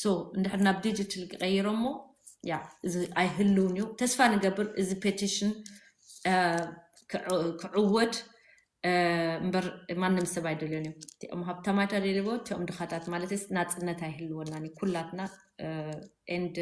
ሶ እንድሕር ናብ ዲጂታል ክቀይረሞ ያ እዚ ኣይህልውን እዩ ተስፋ ንገብር እዚ ፔቲሽን ክዕወት እምበር ማንም ሰብ ኣይደልዮን እዩ እቲኦም ሃብታማት ኣደልዎ እቲኦም ድኻታት ማለትስ ናፅነት ኣይህልወናን እዩ ኩላትና ኤንድ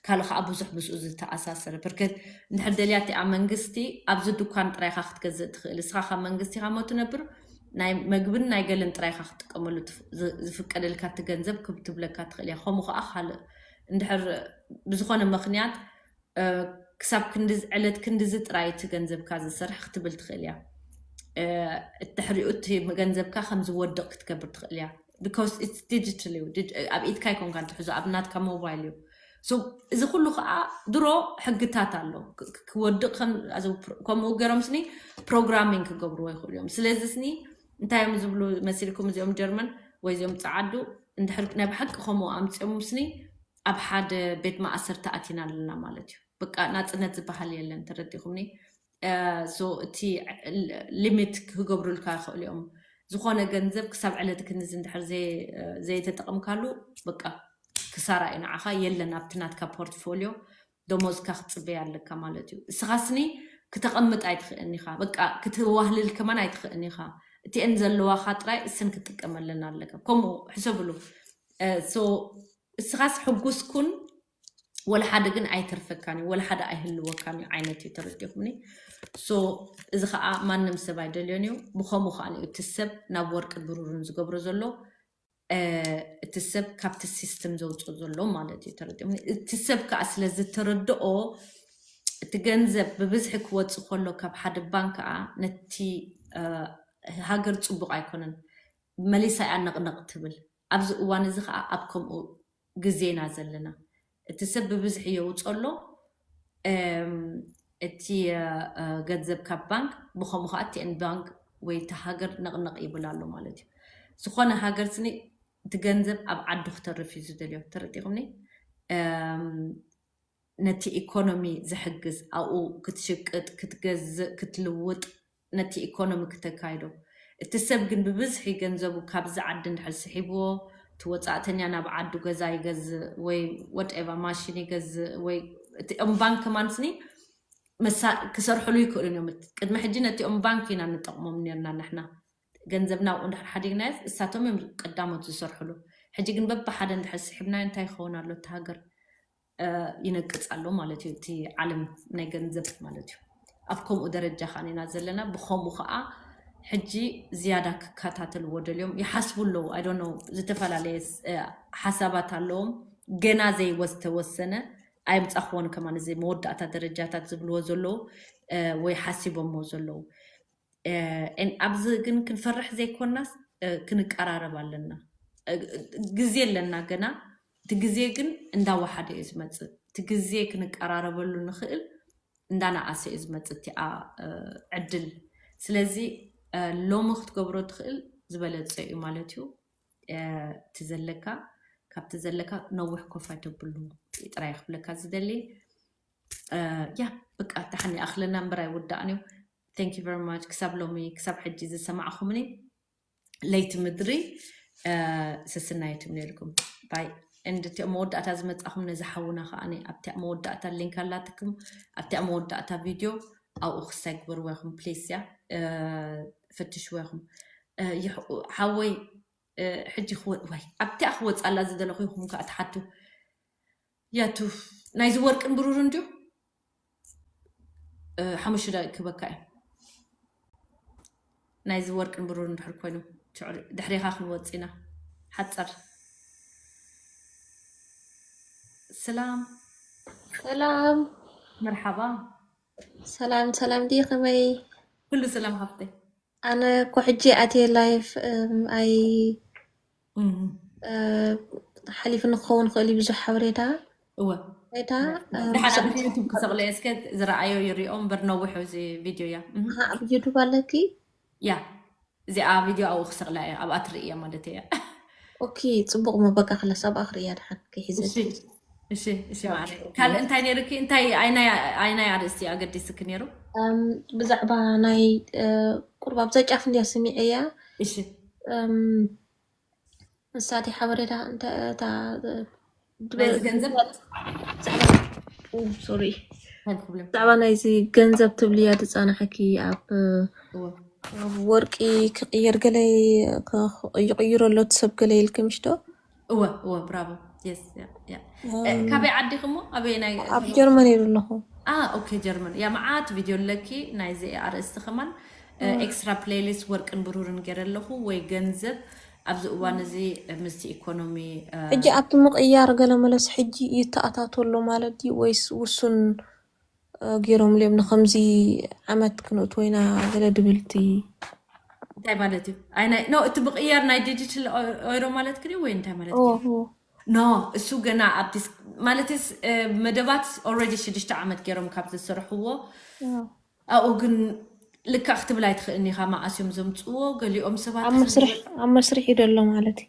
ካልእ ከዓ ብዙሕ ምስኡ ዝተኣሳሰረ ብርክት ንሕደልያ እቲኣ መንግስቲ ኣብዚ ድኳን ጥራይካ ክትገዝእ ትኽእል እስኻ ካብ መንግስቲ ኢኻ ሞ ትነብር ናይ መግብን ናይ ገለን ጥራይ ኢኻ ክትጥቀመሉ ዝፍቀደልካ እቲ ገንዘብ ክብ ትብለካ ትኽእል እያ። ከምኡ ከኣ ካልእ እንድሕር ብዝኾነ ምኽንያት ክሳብ ክንድዚ ዕለት ክንድዚ ጥራይ እቲ ገንዘብካ ዝስራሕ ክትብል ትኽእል እያ። ድሕሪኡ እቲ ገንዘብካ ከም ዝወድቕ ክትገብር ትኽእል እያ። because it's digital እዩ ዲጅ- ኣብ ኢድካ ኣይኮንካን ትሕዞ ኣብ ናትካ ሞባይል እዩ so እዚ ኩሉ ከዓ ድሮ ሕግታት ኣሎ ክ- ክ- ክወድቅ ከም- as a pro- ከምኡ ገይሮም ስኒ ፕሮግራሚንግ ክገብርዎ ይኽእሉ እዮም ስለዚ ስኒ እንታይ እዮም ዝብሉ መሲልኩም እዚኦም ጀርመን ወይ እዚኦም ፀዓዱ እንድሕር ናይ ብሓቂ ከምኡ ኣምፅኦም ስኒ ኣብ ሓደ ቤት ማእሰርቲ ኣቲና ኣለና ማለት እዩ በቃ ናፅነት ዝበሃል የለን ተረዲኹምኒ so እቲ ሊሚት ክገብሩልካ ይኽእሉ እዮም ዝኾነ ገንዘብ ክሳብ ዕለት ክንዚ እንድሕር ዘይተጠቐምካሉ በቃ ክሳራ እዩ ንዓኻ የለን ኣብቲ ናትካ ፖርትፎሊዮ ደሞዝካ ክትፅበይ ኣለካ ማለት እዩ እስኻ ስኒ ክተቐምጥ ኣይትኽእን ኢኻ በቃ ክትዋህልል ከማን ኣይትኽእን ኢኻ እቲኤን ዘለዋኻ ጥራይ እስን ክትጥቀመለን ኣለካ ከምኡ ሕሰብሉ እስኻስ ሕጉስ ኩን ወላ ሓደ ግን ኣይተርፈካን እዩ ወላ ሓደ ኣይህልወካን እዩ ዓይነት እዩ ተረዲኹምኒ ሶ እዚ ከዓ ማንም ሰብ ኣይደልዮን እዩ ብከምኡ ከዓ እዩ እቲ ሰብ ናብ ወርቅን ብሩርን ዝገብሮ ዘሎ እ፣ እቲ ሰብ ካብቲ ሲስተም ዘውፅኦ ዘሎ ማለት እዩ ተረዲኦም እቲ ሰብ ከዓ ስለ ዝተረድኦ እቲ ገንዘብ ብብዝሒ ክወፅእ ከሎ ካብ ሓደ ባንክ ከዓ ነቲ እ፣ ሃገር ፅቡቕ ኣይኮነን መሊሳ እያ ነቕነቕ ትብል ኣብዚ እዋን እዚ ከኣ ኣብ ከምኡ ግዜ ኢና ዘለና። እቲ ሰብ ብብዝሒ የውጽኦ ኣሎ፣ እቲ ገንዘብ ካብ ባንክ፣ ብኸምኡ ከኣ እቲ ን ባንክ ወይ እታ ሃገር ነቕነቕ ይብል ኣሎ ማለት እዩ። ዝኾነ ሃገር ስኒ እቲ ገንዘብ ኣብ ዓዱ ክተርፍ እዩ ዝደልዮ። ተረዲእኩምኒ? ነቲ ኢኮኖሚ ዝሕግዝ ኣብኡ ክትሽቅጥ፣ ክትገዝእ፣ ክትልውጥ፣ ነቲ ኢኮኖሚ ክተካይዶ። እቲ ሰብ ግን ብብዝሒ ገንዘቡ ካብዚ ዓዲ እንድሕር ስሒብዎ እቲ ወጻእተኛ ናብ ዓዱ ገዛ ይገዝእ ወይ ወትኤቫ ማሽን ይገዝእ ወይ እቲ ኦም ባንክ ከማን ስኒ መሳ ክሰርሕሉ ይክእሉን እዮም እቲ ቅድሚ ሕጂ ነቲ ኦም ባንክ ኢና ንጠቕሞም ነርና ንሕና ገንዘብና ኣብኡ እንድሕር ሓዲግናዮስ እሳቶም እዮም ቀዳሞት ዝሰርሕሉ ሕጂ ግን በብሓደ እንድሕር ስሒብናዮ እንታይ ይኸውን ኣሎ እቲ ሃገር ይነቅጽ ኣሎ ማለት እዩ እቲ ዓለም ናይ ገንዘብ ማለት እዩ። ኣብ ከምኡ ደረጃ ኻን ኢና ዘለና ብኸምኡ ኸኣ ሕጂ ዝያዳ ክከታተልዎ ደልዮም ይሓስቡ ኣለዉ ኣይ ዶንት ኖው ዝተፈላለየ ሓሳባት ኣለዎም ገና ዘይወዝተወሰነ ኣየምጻኽዎን ከማን እዚ መወዳእታ ደረጃታት ዝብልዎ ዘለዉ ወይ ሓሲቦሞ ዘለዉ ኣብዚ ግን ክንፈርሕ ዘይኮናስ ክንቀራረብ ኣለና ግዜ ኣለና ገና እቲ ግዜ ግን እንዳወሓደ እዩ ዝመጽእ እቲ ግዜ ክንቀራረበሉ ንኽእል እንዳነኣሰ እዩ ዝመጽእ እቲኣ ዕድል ስለዚ ሎሚ ክትገብሮ ትኽእል ዝበለጸ እዩ ማለት እዩ እቲ ዘለካ ካብቲ ዘለካ ነዊሕ ኮፍ ኣይተብሉ ጥራይ ክብለካ ዝደሊ ያ በቃ ደሓን ይኣኽለና እምበር ኣይውዳእን እዩ ቴንክ ዩ ቨሪ ማች ክሳብ ሎሚ ክሳብ ሕጂ ዝሰማዕኹምኒ ለይቲ ምድሪ ስስና የትምነልኩም ባይ እንድ እቲ መወዳእታ ዝመፃኹም ነዚ ሓውና ከዓ ኣብቲ መወዳእታ ሊንክ ኣላትኩም ኣብቲ መወዳእታ ቪድዮ ኣብኡ ክሰግብር ወይኹም ፕሊስ ያ ፍትሽ ወይኹም ሓወይ ሕጂ ክወ ወይ ኣብቲኣ ክወፅኣላ ዝደለኹ ይኹም ከዓ ትሓቱ ያቱ ናይዚ ወርቅን ብሩርን ድዩ ሓሙሽተ ደቂቅ ክበካ እዩ ናይዚ ወርቅን ብሩርን ድሕር ኮይኑ ድሕሪኻ ክንወፅ ኢና ሓፀር ስላም ሰላም መርሓባ ሰላም ሰላም ድዩ ከመይ ኩሉ ስላም ሃፍተይ ኣነ እኮ ሕጂ ኣትየ ላይፍ ኣይ ሓሊፉ ንክኸውን ክእል እዩ ብዙሕ ሓበሬታ እወ ሬታ ድሓን ኣብ ዩቱብ ክሰቕለ እየ እስከ ዝረኣዮ ይሪኦ እምበር ነዊሑ እዚ ቪድዮ እያ ኣብ ዩቱብ ኣለኪ ያ እዚኣ ቪድዮ ኣብኡ ክሰቕላ እየ ኣብኣ ትርኢ እያ ማለት እያ ኦኬ ፅቡቅ ሞ በቃ ክለስ ኣብኣ ክርእያ ድሓን ክሒዘ እሺ እሺ እሺ ማዕረ ካልእ እንታይ ነይርኪ እንታይ ኣይናይ ኣይናይ ኣርእስቲ እዩ ኣገዲስኪ ነይሩ ብዛዕባ ናይ ቁርብ ኣብዛ ጫፍ እንድያ ስሚዐያ እሺ ንሳቲ ሓበሬታ እንታይ እታ ናይዚ ገንዘብ ሶሪ ኣይብኩብለም ብዛዕባ ናይዚ ገንዘብ ትብልያ ዝፀናሐኪ ኣብ እወ ኣብ ወርቂ ክቕየር ገለ ይቕይሮ ኣሎ እቲ ሰብ ገለ ኢልኪ ምሽ ዶ እወ እወ ብራቮ የስ ያ ያ እ፣ እም፣ ካበይ ዓዲኺ እሞ ኣበየናይ ኣብ ዞባ ጀርመን እየ ዘለኹ ኣ ኦኬ ጀርመን ያ መዓት ቪድዮ ኣለኪ ናይዚ ኣርእስቲ ከማን እ፣ እም፣ ኤክስትራ ፕሌይሊስት ወርቅን ብሩርን ገይረ ኣለኹ ወይ ገንዘብ ኣብዚ እዋን እም። እዚ እ፣ ምስቲ ኢኮኖሚ እ፣ ሕጂ ኣብቲ ምቕያር ገለመለስ ሕጂ ይተኣታቶ ኣሎ ማለት ድዩ ወይስ ውሱን ጌሮምሉ እዮም ንከምዚ ዓመት ክንእትዎ ኢና ገለ ድብል እቲ እንታይ ማለት እዩ? ኣይ ናይ ኖ እቲ ብቅያር ናይ ዲጂታል ኦይሮ ማለት ክድዩ ወይ እንታይ ማለት ኦ ክድዩ? ኦ ኖ እሱ ገና ኣብ ዲስ ማለት ስ መደባት ኦልሬዲ ሽዱሽተ ዓመት ገይሮም ካብ ዘስርሕዎ ኦ ኣብኡ ግን ልክዕ ክትብል ኣይትኽእልኒ ኢኻ መዓስ እዮም ዘምፅዎ ገሊኦም ሰባት ኣብ መስርሕ ኣብ መስርሕ እዩ ደሎ ማለት እዩ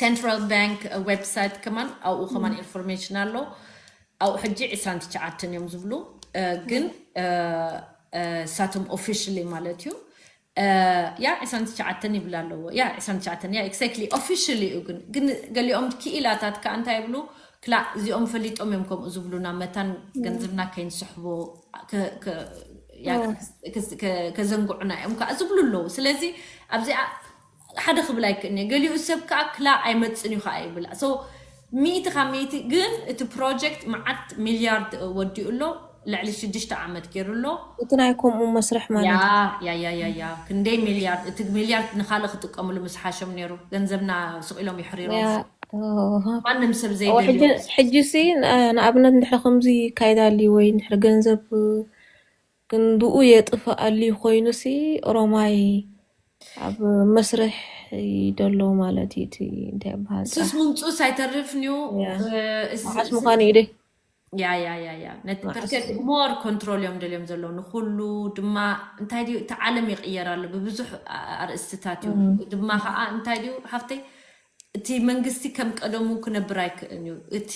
ሰንትራል ባንክ ዌብሳይት ከማን ኣብኡ ከማን ኢንፎርሜሽን ኣሎ ኣብኡ ሕጂ ዕስራን ትሽዓተን እዮም ዝብሉ ግን እሳቶም ኦፊሽሊ ማለት እዩ ያ ዕስራን ትሽዓተን ይብል ኣለዎ ያ ዕስራን ትሽዓተን ያ ኤግዛክትሊ ኦፊሽሊ እዩ ግን ግን ገሊኦም ክኢላታት ከዓ እንታይ ይብሉ ክላእ እዚኦም ፈሊጦም እዮም ከምኡ ዝብሉና መታን ገንዘብና ከይንስሕቦ ከዘንግዑና እዮም ከዓ ዝብሉ ኣለዉ ስለዚ ኣብዚኣ ሓደ ክብል ኣይክእልን'የ ገሊኡ ሰብ ከኣ ክላእ ኣይመጽን'ዩ ከኣ ይብል so ሚእቲ ካብ ሚእቲ ግን እቲ ፕሮጀክት መዓት ሚልያርድ ወዲኡ ኣሎ ልዕሊ ሽዱሽተ ዓመት ጌሩ ኣሎ። እቲ ናይ ከምኡ መስርሕ ማለት እዩ። ያያያያያ ክንደይ ሚልያርድ እቲ ሚልያርድ ንካልእ ክጥቀምሉ ምስ ሓሾም ኔሩ ገንዘብና ስቅ ኢሎም የሕሪሮም ማንም ሰብ ዘይደልዮ ሕጂሲ ንኣብነት እንድሕሪ ከምዚ ይካየድ ኣልዩ ወይ እንድሕሪ ገንዘብ ክንድኡ የጥፍኣሉ ኮይኑሲ ኦሮማይ ኣብ መስርሕ እዩ ደሎ ማለት እዩ እቲ እንታይ ይብሃል ሱስ ጻሕ ምምጹስ ኣይተርፍንዩ ያ መዓስ ምዃኑ እዩ ደይ ያ ያ ያ ያ ነቲ መዓስ ብርገድ እዩ ሞር ኮንትሮል እዮም ደልዮም ዘለዉ ንኩሉ ድማ እንታይ ድዩ እቲ ዓለም ይቕየር ኣሎ ብብዙሕ ኣ- ኣርእስትታት እዩ እም፣ ድማ እም፣ ከዓ እንታይ ድዩ ሃፍተይ እቲ መንግስቲ ከም ቀደሙ ክነብር ኣይክእን እዩ። እቲ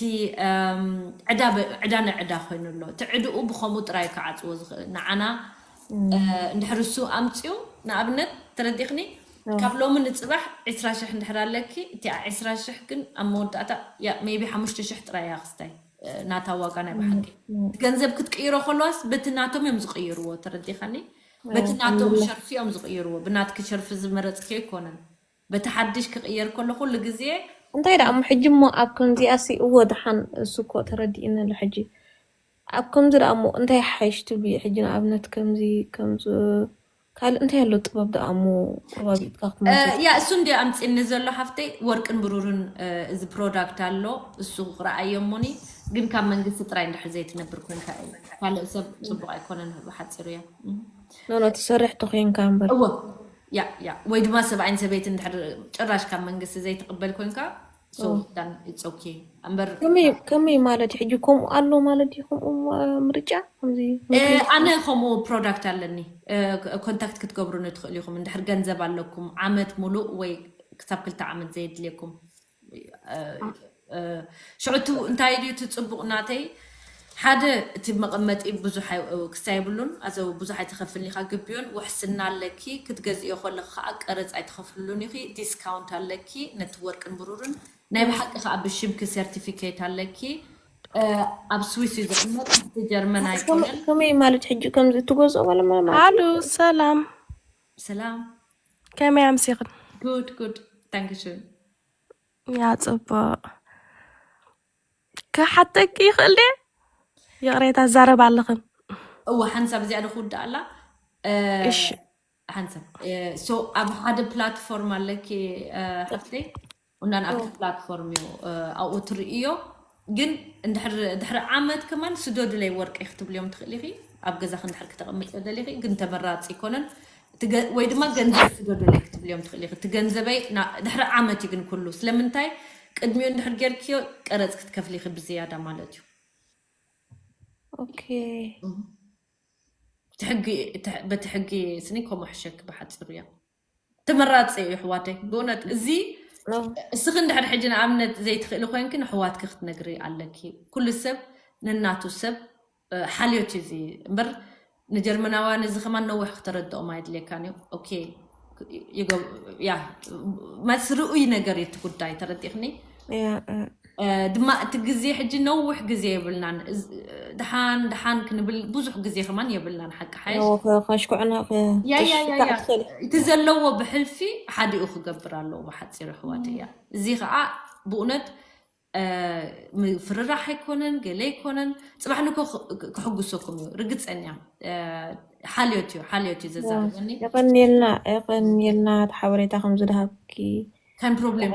ዕዳ ዕዳ ንዕዳ ኮይኑ ኣሎ። እቲ ዕድኡ ብኸምኡ ጥራይ እዩ ክዓጽዎ ዝኽእል። ንዓና እንድሕር እሱ ኣምጺኡ ንኣብነት ተረዲእክኒ ካብ ሎሚ ንጽባሕ ዕስራ ሽሕ እንድሕር ኣለኪ እቲኣ ዕስራ ሽሕ ግን ኣብ መወዳእታ እያ ሜይቢ ሓሙሽተ ሽሕ ጥራይ እያ ክስታይ ናታ ዋጋ ናይ ብሓቂ እቲ ገንዘብ ክትቅይሮ ከለዋስ በቲ ናቶም እዮም ዝቕይርዎ ተረዲእካኒ በቲ ናቶም ሸርፊ እዮም ዝቕይርዎ ብናትኪ ሸርፊ ዝመረጽክዮ ኣይኮነን። በቲ ሓድሽ ክቕየር ከሎ ኩሉ ግዜ። እንታይ ደኣ እሞ ሕጂ እሞ ኣብ ከምዚኣሲ እወ ደሓን እሱ እኮ ተረዲኡኒ ኣሎ ሕጂ ኣብ ከምዚ ደኣ እሞ እንታይ ይሓይሽ ትብሊ ሕጂ ንኣብነት ከምዚ ከምዚ ካልእ እንታይ ኣሎ ጥበብ ደኣ እሞ ቁርባቢጥካ ክትመልሲ ያ እሱ እንዲ ኣምጺኒ ዘሎ ሓፍተይ ወርቅን ብሩርን እዚ ፕሮዳክት ኣሎ እሱ ረኣዮ እሞኒ ግን ካብ መንግስቲ ጥራይ እንድሕር ዘይትነብር ኮንካ እዩ ካልእ ሰብ ጽቡቕ ኣይኮነን ብሓጺሩ እያ ኖኖ ትሰርሕ ተኮንካ እምበር እወ ያእ ያእ ወይ ድማ ሰብኣይን ሰበይትን ድሕር ጭራሽ ካብ መንግስቲ ዘይትቕበል ኮንካ ሶ ኦ፣ ዳን ኢትስ ኦኬ እምበር ከመይ ከመይ ማለት እዩ ሕጂ ከምኡ ኣሎ ማለት ድዩ ከምኡ ማ- ምርጫ ከምዚ እ፣ ምክሪ ኣነ ትህብ ከምኡ ፕሮዳክት ኣለኒ እ፣ ክ- ኮንታክት ክትገብሩኒ ትኽእሉ ኢኹም እንድሕር ገንዘብ ኣለኩም ዓመት ሙሉእ ወይ ክሳብ ክልተ ዓመት ዘየድልየኩም ሽዑ እቲ እንታይ ድዩ እቲ ጽቡቕ ናተይ ሓደ እቲ መቐመጢ ብዙሕ ክስታይ የብሉን ኣዘ ብዙሕ ኣይትኸፍልን ኢኻ ግቢኡን ውሕስና ኣለኪ ክትገዝእዮ ከለኺ ከኣ ቀረጽ ኣይትኸፍልሉን ኢኺ ዲስካውንት ኣለኪ ነቲ ወርቅን ብሩርን ናይ ብሓቂ ከኣ ብሽምኪ ሰርቲፊኬት ኣለኪ ኣብ ስዊስ እዩ ዝቕመጥ እቲ ጀርመን ኣይኮነን ከመይ ማለት ሕጂ ከምዚ እትገዝኦ ባለ ማለት ኣሉ ሰላም ሰላም ከመይ ኣምሲኽን? ጉድ ጉድ ዳንክሽን ያ ጽቡቕ ክሓተኪ ይኽእል ድየ? ይቕሬታ ዛረብ ኣለኽን እወ ሓንሳብ እዚኣ ዶ ክውዳእ ኣላ እሺ ሓንሳብ ሶ ኣብ ሓደ ፕላትፎርም ኣለኪ ሓፍተይ ቁንዳን ኣብቲ ፕላትፎርም እዩ ኣብኡ ትርእዮ ግን ድሕሪ ዓመት ከማን ስደዱለይ ወርቂ ክትብልዮም ትኽእል ኢኺ ኣብ ገዛኺ እንድሕር ክተቐምጥዮ ደሊኺ ግን ተመራፂ ኣይኮነን ወይ ድማ ገንዘብ ስደዱለይ ክትብልዮም ትኽእል ኢኺ እቲ ገንዘበይ ድሕሪ ዓመት እዩ ግን ኩሉ ስለምንታይ ቅድሚኡ እንድሕር ጌርክዮ ቀረፅ ክትከፍሊ ኢኺ ብዝያዳ ማለት እዩ ኦኬ እቲ ሕጊ በቲ ሕጊ ስኒ ከምኡ ሕሸኪ ብሓፂሩ እያ ተመራፂ እዩ ኣሕዋተይ ብእውነት እዚ እስኺ እንድሕር ሕጂ ንኣብነት ዘይትኽእሊ ኮንኪ ንኣሕዋትኪ ክትነግሪ ኣለኪ ኩሉ ሰብ ነናቱ ሰብ ሓልዮት እዩ እዚ እምበር ንጀርመናውያን እዚ ከማን ነዊሕ ክተረድኦም ኣይድልየካን እዩ ኦኬ ያ ማለት ርኡይ ነገር እዩ እቲ ጉዳይ ተረዲእክኒ ድማ እቲ ግዜ ሕጂ ነውሕ ግዜ የብልናን ድሓን ድሓን ክንብል ብዙሕ ግዜ ከማን የብልናን ሓቂ ሓይሽ ከሽኩዕና ያያያያ እቲ ዘለዎ ብሕልፊ ሓዲኡ ክገብር ኣለዎ ብሓፂሩ ኣሕዋት እያ እዚ ከዓ ብእውነት ምፍርራሕ ኣይኮነን ገለ ኣይኮነን ፅባሕ ንኮ ክሕጉሰኩም እዩ ርግፀኛ ሓልዮት እዩ ሓልዮት እዩ ዘዛርበኒ የቀኒልና የቀኒልና እቲ ሓበሬታ ከም ዝድሃብኪ ከም ፕሮብሌም